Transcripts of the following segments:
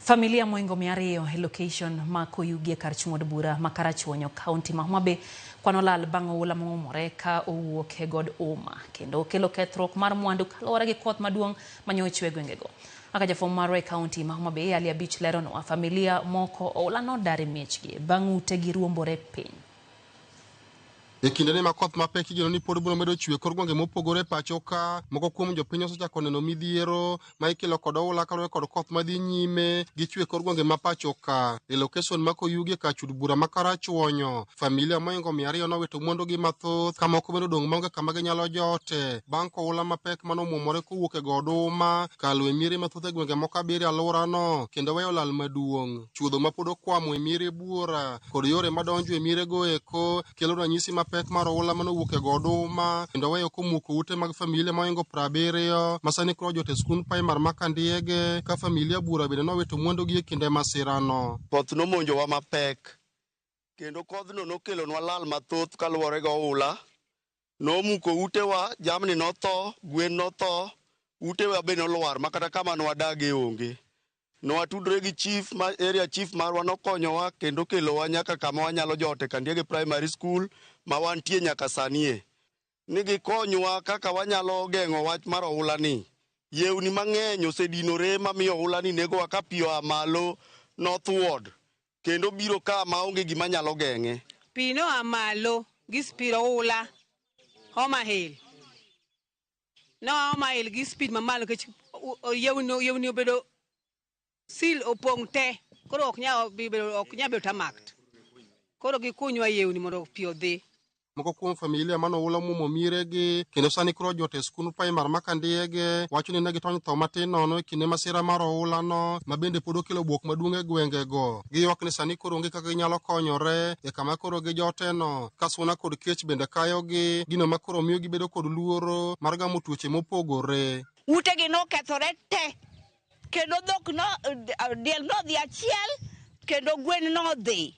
Familia moingo mia ariyo e location ma Koyugi e kar chung' od bura ma Karachuonyo, kaunti ma Homa Bay kwan olal bang' oula mong'umore ka owuok e god Uma kendo okelo kethruok mar mwandu kaluwore gi koth maduong' manyo ochwe e gwengego. Kaka jafwambo marwa e kaunti ma Homa Bay, Ali Abich leronwa, familia moko oula nodar e miechgi bang' utegi ruombore piny. E kindeni ma koth mapek igeno ni pod biro medo chwe e kor gwenge mopogore e pacho ka, moko kuom jopiny osechako neno midhiero ma ikelo kod oula kaluwore kod koth madhi nyime gi chwe e kor gwenge ma pacho ka. E lokeson ma Koyugi e kar chud bura ma Karachuonyo, familia moingo mia ariyo nowito mwandugi mathoth ka moko bende odong' maonge kama ginyalo jote bang' koula mapek mane omwomore kowuok e go oduma kalo e miere mathoth e gwenge moko abiriyo e alworano kendo weyo lal maduong'. chuodho ma pod okwamo e miere buora kod yore madonjo e mierego eko kelo ranyisi mapek mar oula mane owuok e go oduma kendo weyo komuko ute mag familia moingo piero abiriyo ma sani koro jot e skund primar ma Kandiege ka familia buora bende nowito mwandugi e kinde masirano. Koth nomonjowa mapek kendo kodhno nokelonwa lal mathoth kaluwore gi oula nomuko utewa, jamni notho, gwen notho, utewa be nolwar ma kata kama nwadagie onge. Nwatudre gi chief ma area chief marwa nokonyowa kendo kelowa nyaka kama wanyalo jot e Kandiege Primary School ma wantie nyaka sanie. Ni gikonywa kaka wanyalo geng'o wach mar ohulani. Yewni mang'eny osedinore mamiyo ohulani negowa ka pi oa malo northward Kendo obiro ka ma onge gima nyalo geng'e. Pi noa malo gi spid oula Homa Hill. Noa Homa Hill gi spid mamalo nikech yewni obedo sil opong' te koro ok nyal bedo tamak. Koro gikunywa yewni mondo pi odhi. Moko kuom familia mane oula omuomo miregi kendo sani koro ojot e skund primar ma Kandiyege wacho ni ne gitony tho matin nono e kinde masira mar oulano ma bende pod okelo buok maduong' e gwengego. Giywak ni sani koro onge kaka ginyalo konyore e kama koro gijoteno ka suna kod kech bende kayogi, gino ma koro miyo gibedo kod luoro mar gamo tuoche mopogore. Utegi nokethore te kendo dhok no, diel nodhi achiel kendo gwen nodhi.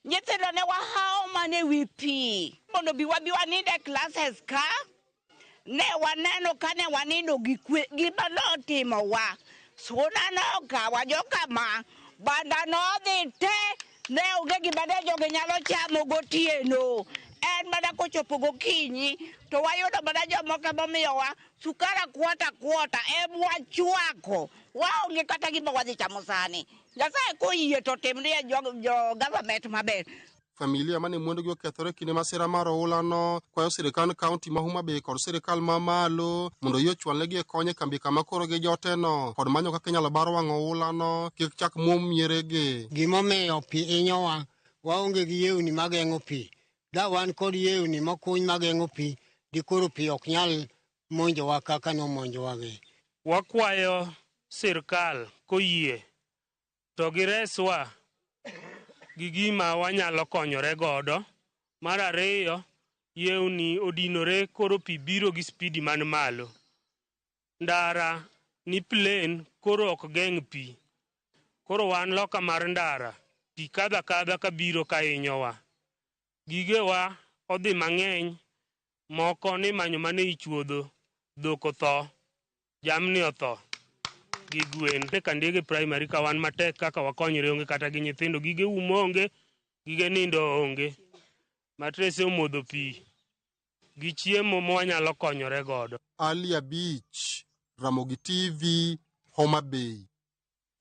Nyithindo ne wahawo mana e wi pi mondo bi wabi wanind e classes ka. Ne waneno ka ne wanindo gi kwe gima notimowa. Suna nokawa joka ma banda nodhi te ne onge gima ne jogi nyalo chamo gotieno. En mana kochopo gokinyi to wayudo mana jomoko emomiyowa sukara kwota kwota emwachwako waonge kata gima wadhi chamo sani. Nyasaye koyie to timnie jo-government jo maber. Familia mane mwandugi okethore kinde masira mar oulano kwayo sirikand kaunti ma Homa Bay kod sirikal ma malo mondo yie ochwalnegi e kony e kambi kama koro gi joteno kod manyo kaka inyalo bar wang' oulano kik chak mwom mieregi. Gimomiyo pi inyowa, waonge gi yewni mageng'o pi. Da wan kod yewni mokuny mageng'o pi, dikoro pi ok nyal monjowa kaka nomonjowagi. Wakwayo sirkal koyie to gireswa gi gima wanyalo konyore godo. Mar ariyo, yewni odinore koro pi biro gi spidi man malo. Ndara ni plain koro ok geng' pi. Koro wan loka mar ndara, pi kadho akadha kabiro kahinyowa. Gigewa odhi mang'eny moko ni manyo mane ichuodho, dhok otho, jamni otho gi gwen. E Kandege Primary ka wan matek kaka wakonyre onge kata gi nyithindo, gige umo onge, gige nindo onge. Matrese omodho pi gi chiemo mwanyalo konyore godo. Ali Abich, Ramogi TV, Homa Bay.